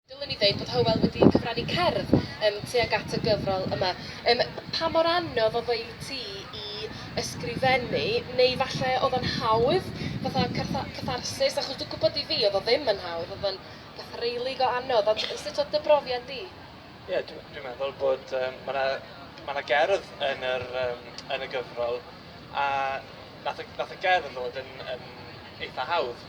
Dylwn i ddweud bod Hywel wedi cyfrannu cerdd yym tuag at y gyfrol yma. Yym pa mor anodd oedd o i ti i ysgrifennu, neu falle oedd o'n hawdd, fatha cartha- catharsis? Achos dwi'n gwybod i fi oedd o ddim yn hawdd, oedd o'n beth rili go anodd, ond sut oedd dy brofiad di? Ie, dwi dwi'n meddwl bod yym ma' 'na ma' 'na gerdd yn yr yym yn y gyfrol a nath y nath y gerdd ddod yn yn eitha hawdd.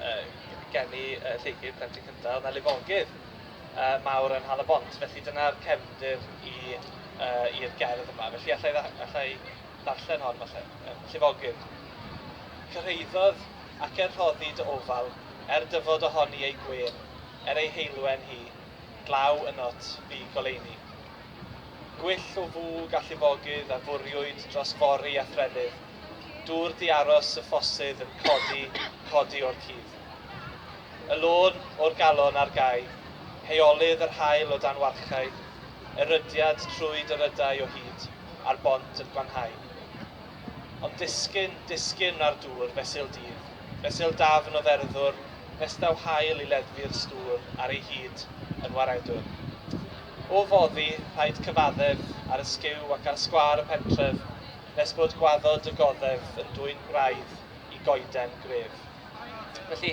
yy geni y Lleucu, plentyn cynta, o'dd 'na lifogydd yy mawr yn Nhal y Bont, felly dyna'r cefndir i yy i'r gerdd yma. Felly alla i dda- alla i ddarllen hon falle. Yym llifogydd. Cyrhaeddodd ac er rhoddi dy ofal, er dyfod ohoni ei gwên, er ei heulwen hi, glaw ynot fu goleuni. Gwyll o fwg a llifogydd a fwriwyd dros fori a threfydd, Dŵr di aros y ffosydd yn codi, codi o'r cudd. Y lôn o'r galon ar gau, heolydd yr haul o dan warchae, erydiad trwy dyrydau o hyd, a'r bont yn gwanhau. Ond disgyn, disgyn â'r dŵr, fesul dydd, fesul dafn o dderddwr, festdaw haul i leddfu'r stŵr ar ei hyd yn waredwr. O foddi, rhaid cyfaddef ar y sgiw ac ar sgwâr y pentref, nes bod gwaddod y goddef yn dwyn gwraidd i goeden gref. Felly,